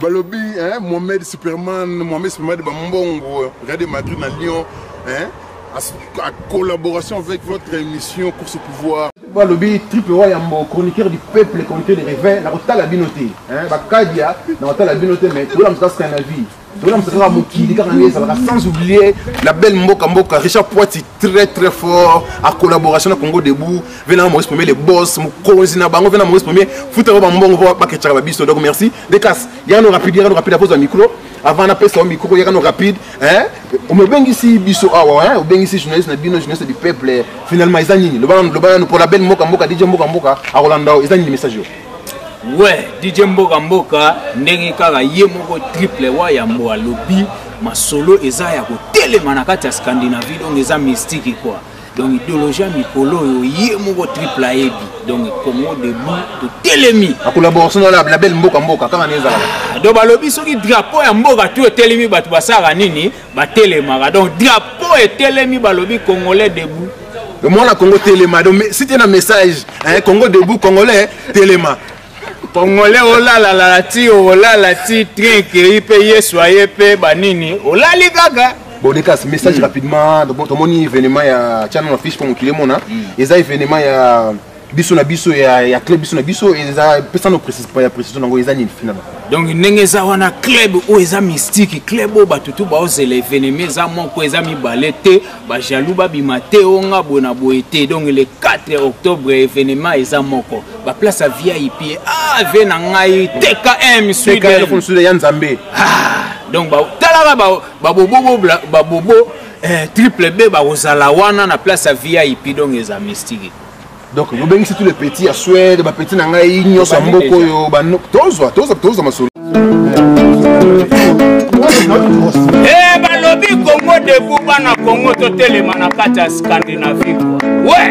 Balobi hein Mohamed Superman, Mohamed Superman ba mbongo, Real de Madrid na Lyon hein à collaboration avec votre émission course au pouvoir balobi triple wa yambo chroniqueur du peuple chroniqueur de réveil nakotala bino te bakadia nakotala bino te mais tola mosuka sky na vie tola mosuka kaka mokili kaka nde ezalaka sans oublier la belle mboka mboka richard poiti très très fort à collaboration na congo debout vena na maurice premier le boss mokonzi na bango vena maurice premier futa bango bambongo po bakecaka babiso donc merci decas yano rapide yano rapide akozwa micro avant napesa yo micro yakano rapide me obengisi biso awa obengisi journaliste na bino journaliste du peuple finalement eza nini loba nanu mpo label mboka mboka dj mboka mboka akolanda yo eza nini message yo we dj mboka mboka ndenge kaka ye moko triple wa yambo alobi masolo eza ya kotelema na kati ya scandinavie donc eza mystique quoi donc idéologie ya mikolo oyo ye moko triple ayebi donc congo debout totelemi akolaboration na label mboka mboka kaka na ezalaka ah, donc balobi soki drapeau ya mboka tu etelemi bato basalaka nini batelemaka donc drapeau etelemi balobi congolais debout mwana congo telema donc site na message eh, congo debout congolais telema congolais olalalala ti olala ti train ekei mpe yesu aye mpe banini olali kaka bodekas message hmm. rapidement tomoni événement ya channel na fiche mpo mokili emona hmm. eza événement ya biso na biso ya, ya club biso na biso eza pesa no ya précision nango eza nini finalement donc ndenge eza wana club oyo eza mystique club oyo bato tu baozela eveneme eza moko eza mibale te ba jaloux babima te o nga boye na boye te donc le 4 octobre événement eza moko ba place ya vip ah vie na ngai tkm sud ya nzambe ah, donc talaka babobo ba ba ba eh, triple b bakozala wana na place ya vip donc eza mystique donc bobengisi tout le petit ya swede bapetit na ngai nyonso ya mboka oyo tozwa tozwa tozwa masolo e balobi kongo debu bana kongo totelema na kati ya scandinavie we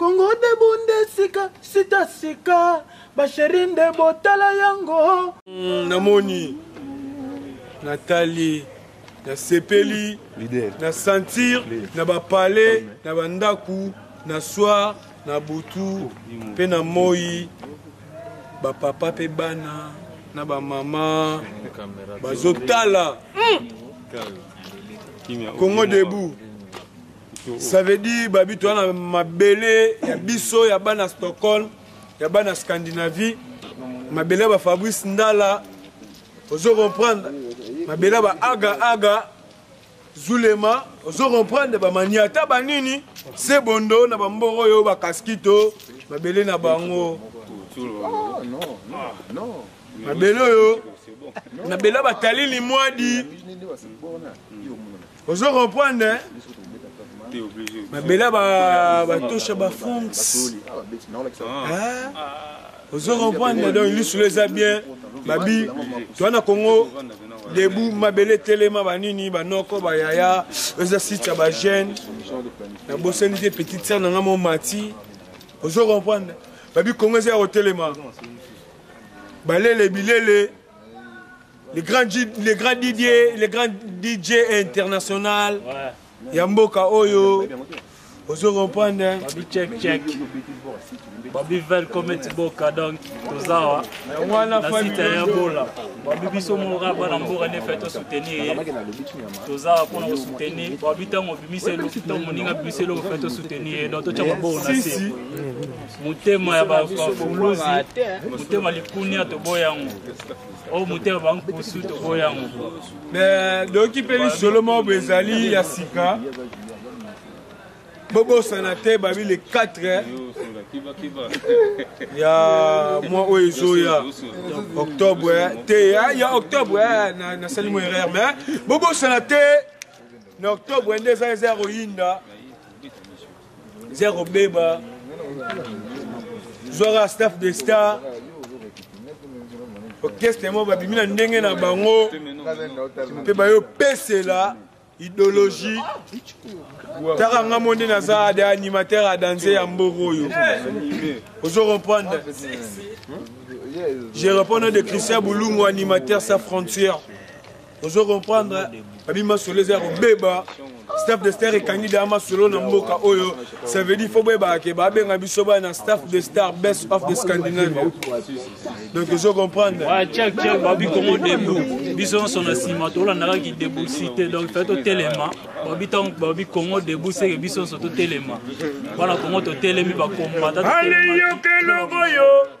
Congo de bunde sika sita sika ba chérie nde botala yango mm, namoni natali nasepeli na sentir na bapale na bandako na soir na butu mpe oh, na moi bapapa mpe bana na bamama bazotala hmm. congo debout ça veut dire babi toza na mabele ya biso ya bana stockholm ya bana scandinavie mabele ya bafabrice ndala ozo comprendre mabele ya baaga aga zulema ozo comprendre bamaniata banini se bondo na bambongo oyo bakaskito mabele na bango mabele oyo mabele ya batali limwadi ozo comprendre babela batosha bafongs ozo comprendre donc lisolo eza bien babi toa na congo debu mabele telema banini banoko bayaya eza site ya bajeune nabosani te petite sere na nga momati ozo comprendre babi congo eza ya kotelema balele bilele Le grand, le grand Didier, le grand DJ international. Ouais. ya mboka oyo ozo comprendre babi check check babi vel cometi boka donc tozawa na site ya bola babi biso moka bana mboka nde fai tosoutenir ye tozawa mpona kosoutenir babi ntango obimisa eloko ntango moninga abimisa eloko fai tosoutenir ye donc totya maboko na se motema ya bafuluzi motema likunia toboya yango oyo moto ya bankusu toboya yango doki mpe lisolo moko ezali ya sika bobosana te babi le 4 ya mwa oyo ezoya octobre eh. te eh, ya octobre eh, nasali mo erreur mais bobosana te na octobre nde eza eza ya koyinda eza kobeba zwaka staff de star orchestre moko babimi na ndenge na bango mpe bayopesela idéologie taka nga mo nde naza de animateur ya danse ya mboko oyo ozo comprendre je réponds de christian bulungu animateur sa frontière ozo comprendre abi masolo eza ya kobeba staff de star ekangi deya masolo na mboka oyo ça veut dire fo boyebaka ke babenga biso baya na staff de star best of the scandinavia donc ozo comprendre chek chek babi kongo debu biso nyonso na nsima tolandaka ki debu si te donc fai totelema babi ntango babi kongo debu seke biso nyonso totelema bana kongo totelemi bakombata aleyokelongo yo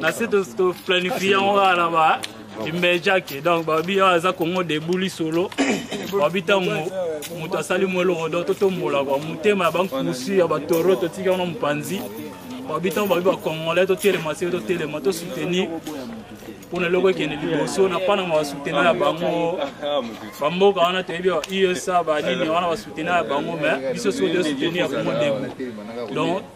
na se toplanifie yango kaka na ba imbejake donc babi oyo aza kongo debout lisolo babi ntango moto asali mwa eloko donc totombola kua motema ya bankusi ya batoro totika wana mopanzi babi ntango babi bacongolais totelema se totelema tosoutenir mpona eloko ekende liboso na mpananga basutena ya bango bamboka wana toyebi usa banini wana basutena ya bango mais biso soki tosuteni ya kongo debout donc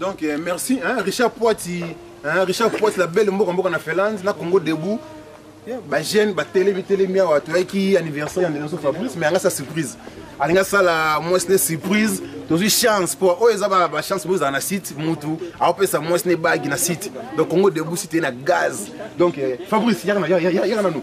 donc euh, merci hein, richard poiti hein, richard poiti la belle mboka mboka na finlande na congo debout bajeune batelemi telemi awa toyaki anniversaire ya ndelenso fabrice mais yanga sa surprise alingi asala mwasi ne surprise tozwi chance mpo oyo eza bachance mpo ezala na site mutu aopesa mwasi ne bagi na site donc congo debout site ye na gaz donc euh, fabrice yaka nanu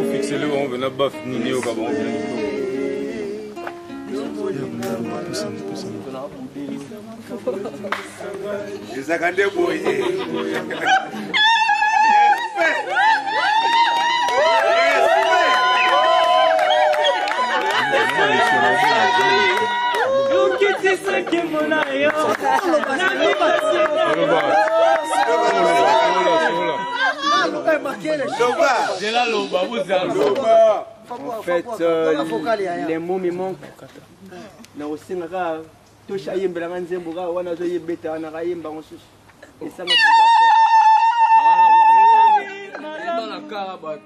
ofixele bango mpena baf nini eyoka bango mpena ezaka nde boye Thank you. En fait, euh, les mots me manquent. nakosenga kaka tosha ayembelanga nzembo kaka wana azoyebeta wana kayemba mosusu esanga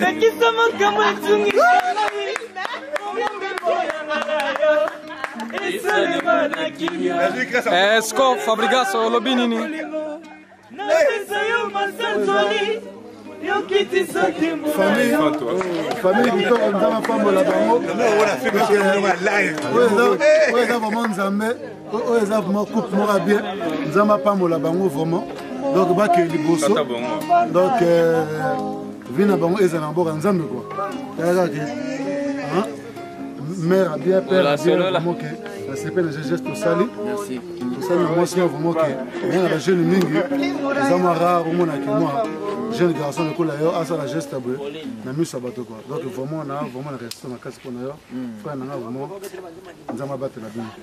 Pekisa makambo etungisa Esko Fabregas olobi nini? Napesa yo masanzoli yokitisaki famille kitoko nzambe apambola bango oyo eza vraimen nzambe oyo eza vraiment coupe moko ya bien nzambe apambola bango vraiment donc bakei liboso donc euh, vi na bango ezala na mboka nzambe kua yaka ke mare abien père abien vraiment ke nasepeli na geste tosali tosali na mwasi mwa vraiment ke oza na bajeune mingi eza mwa rare omonaki mwa jeune garçon lokola yo asala geste boye na miso ya bato kua donc vraiment na vraiment na respect makasi mpo na yo frère nanga vraiment nzambe abatela bino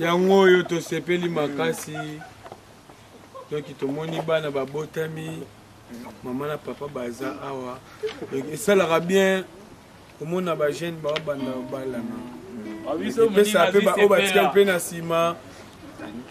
yango oyo tosepeli makasi donki tomoni bana babotami mama na papa baza awa donki esalaka bien komona bajeune baobanda obalana ah, epesa mpe baoyo batika mpe na nsima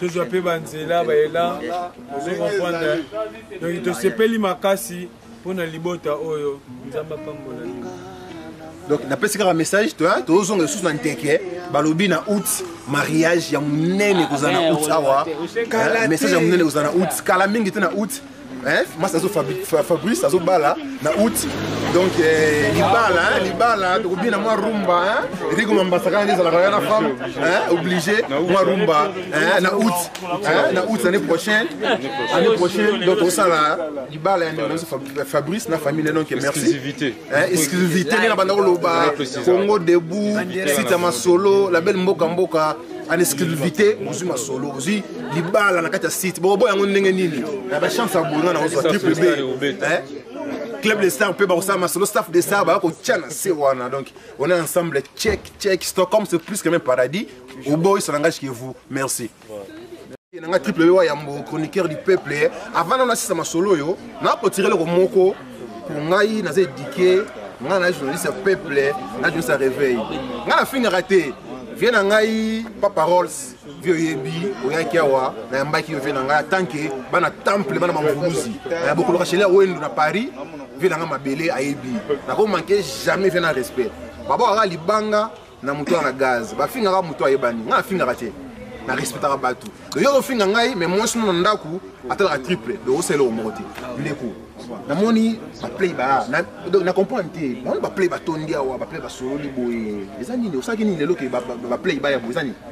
tozwa mpe banzela bayela ozo comprendre donki tosepeli makasi mpo na libota oyo nzambe apambola bino donc napesi kaka message tozozonga lisusu na nteke balobi na out mariage ya monene kozala na out awa message ya monene kozala na out kala mingi te na out masi azo fabrice azobala na out donc eh, libala libala tokobina mwa rumba rigo mambasaka nde ezalaka ya na femme obligé mwa rumba na out na out année prochaine année prochaine donc tosala libala ya ndeko nabiso fabrice na famille donc merci exclusivité nde na banda koloba congo debout site ya masolo label mboka mboka en exclusivité bozwi masolo bozwi libala na kati ya site bokoboya yango ndenge nini na bachance ya bono na kozwa triple b club de star mpe bakosala masolo staff de star baya kotya na se wana donc on est ensemble check check stockholm c'est plus que même paradis oboyisana ngai chez vous merci na nga triple wa yambo chroniqueur du peuple eh. avant nano nasisa masolo oyo nakotire eloko moko mpo ngai naza edike ngai na journaliste ya peuple eh. na journaliste ya réveil ngai nafingaka te vie na ngai pa paroles vie oyebi oyaki awa nayambaki yo vie na ngai atanke bana temple bana mamvuluzi eh, bokoloka shele ya wendo na paris vie na ngai mabele ayebi nakomanke jamais vie na respect babokaka libanga na moto wana gaz bafingaka moto ayebani ngai nafingaka te na respectaka bato donc yo ofinga ngai mais mwasi no na ndako atalaka triple donc osala eloko moko te ndeko namoni baplay ba na comprendre te namoni baplay batondi awa baplay basololi boye eza nini osalaki nini lelo ke baplay baya boye eza nini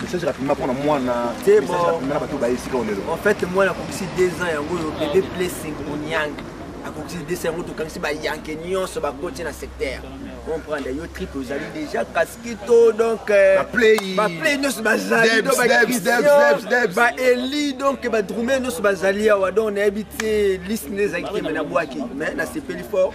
message rapidement mpona mwana message rapidement na bato baye esika olelo en fait mwana akokisi 2 ans yango oyo bebe blessing onyang akokisi 2 ans yango tokangisi bayanke nyonso bakoti na secteur comprendre yo trip ozali déjà kaskito donc baplay nyonso bazali baeli donc badrume nyonso bazali awa donc nayebi te liste nde ezalaki te me nabwaki mais nasepeli fort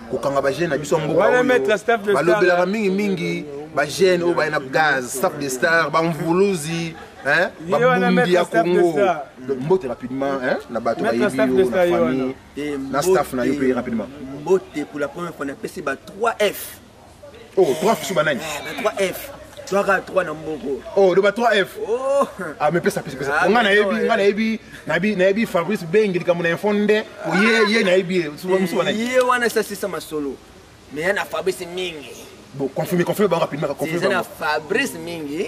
kokanga bagene na biso ya mboka oyo balobelaka mingimingi bagene oyo baye na gaz staff de star bamvuluzi babundi ya congo mbote rapidement na bato bayebi yo na famille na staff na yo mpe rapidement mbote pour la première fois napesi ba 3 f Oh, 3 F sur banani? Eh, 3 ben, F. Twaka 3 na mboko. Oh, loba 3 F. Oh. Ah, mais pesa pesa pesa. Ah, nga na yebi, nga na yebi, na bi na yebi Fabrice Bengi likambo na info nde. Oh, ye ye na yebi, musu banani? Ye wana sa sisa masolo. Mais na Fabrice mingi. Bon, confirme, confirme bango rapidement, confirme bango. Fabrice mingi.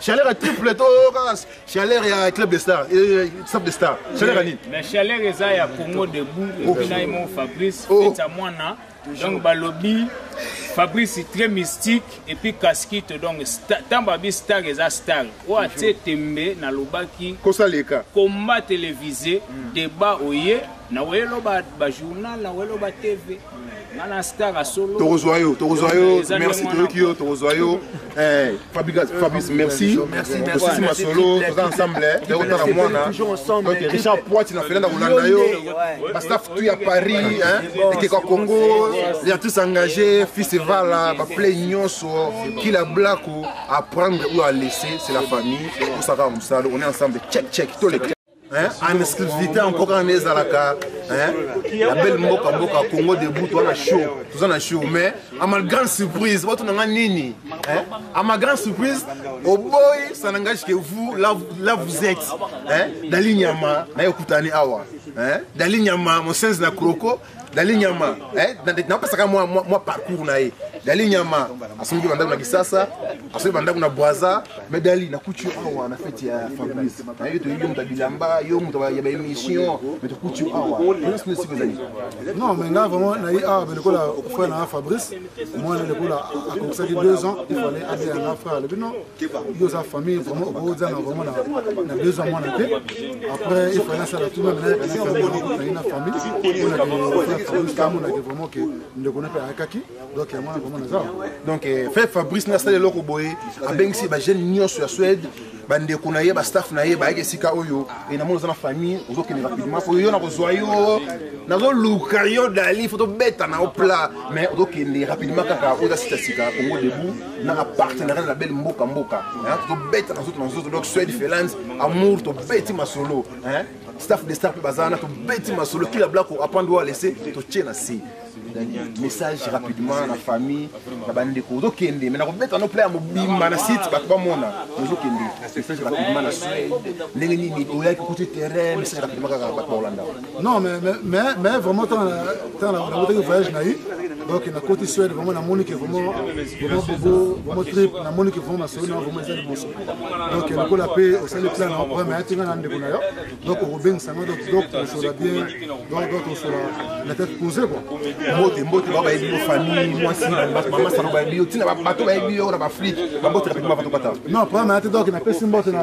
chaleur ya triple to kaka chaleur ya club de star club de star chaleur ya nini mais chaleur eza ya congo debout epi na ye moko fabrice feta mwana donc balobi fabrice très mystique epuis kaskito donc ntango babi star eza star oyo atie tembe nalobaki kosaleka combat télévisé mm. débat oye naweloba bajournal naweloba tv tokozwa yo tokozwa yo merci toyoki yo tokozwa yo eh, fabrice merci osisi masolo toza ensemble tokotala mwana richard poiti na felanda kolanda yo bastaf tu ya paris ekeka congo ya tous engagé fils evala baplay nyonso kila blako apprendre ou alaisser c'est la famille osaka mosala on est ensemble check check toleka en exclusivité en mboka wana ezalaka ya belle mboka mboka congo debout toza na show toza na show mais à ma grande surprise bato na nga nini à ma grande surprise oboyi ça n'engage que vous là, là vous êtes dali nyama naye okutani awa dali nyama mosenzi na kroko dali nyama eh, napesaka mwa, mwa, mwa parcours na ye dali nyama asombi bandako na kisasa asombi bandako na bwaza mais dali nakuti yo awa na fete ya fabrice nayebi toyebi yo moto ya bilamba yo moto ya baémission mais tokuti yo awa oyosi esika ezali non mais nga vraiment naye awa me lokola frère na nga fabrice omwana lokola akokisaki deux ans il fallait adeya nga frère alobi non yo oza famille vraiment okozanga vraiment na besoin mwana te après il fallait asala tout même nayaka na famille nakokangi na famille onakeamonake vraiment ke ndeko na mpe ayakaki donc yango wana vraiment naza donc eh, fe fabrice nasala eloko boye abengisi bajeune nyonso ya suède bandeko na ye bastaff na ye bayaki esika oyo e namoni oza na famille ozokende rapidement po yo nakozwa yo nazoluka yo dali fo tobeta na yo plat mais ozokende rapidement kaka oza sitasika kongo debout nanga partenariat na belle mboka mboka tobetaka nzoto na nzoto donc swed felance amour tobeti masolo staff de star mpe baza wana tobeti masolo kila blako apande oyo alese totie na se message rapidement na famille na bandeko ozokende me nakobeta no pla ya mobimba na site bato bamona ozokende message rapidement na swede ndenge nini oyaki kuti terrain message rapidement kaka bato baolanda non mais mais mais vraiment tant tant la route que voyage na yi donc na côté suède vraiment na monique vraiment vraiment bobo vraiment trip na monique vraiment na solo na vraiment ezali bonso donc na kola pe au sali plan na vraiment mais atinga na ndeko na yo donc au beng sango donc donc on sera bien donc donc on sera la tête posée quoi mbote mbote ba ba yebi yo famille moi si na ba mama salo ba yebi yo tina ba bato ba yebi yo na ba flic ba mbote na pe ba bato pata non pas mais donc na pesi mbote na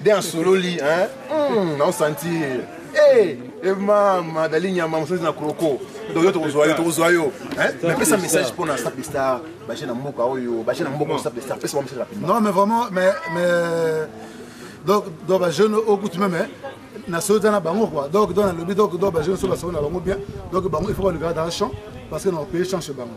de asololi hein hmm, na sentir eh eh mama dali nyama mosusu na kroko donc yo tokozwa yo tokozwa yo napesa message mpo na sape star baje na mboka oyo baje na mboka sape star pesa message rapidement non mais vraiment mais mais donc donc ba jeune au goût même na soza na bango quoi donc donc na lobi donc donc ba jeune so ba so na bango bien donc bango il faut ba le garder dans le champ parce que na pays change bango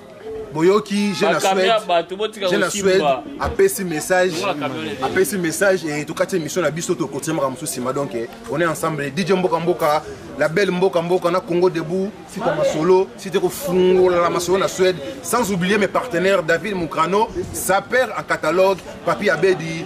boyoki je na suede apesi message apesi message e tokati émission na biso tokotia makambo mosusu nsima donc eh, on est ensemble dj mboka mboka la belle mboka mboka na congo debout sita masolo site kofungolala masolo na suede sans oublier mes partenaires david mukrano saper en catalogue papi abedi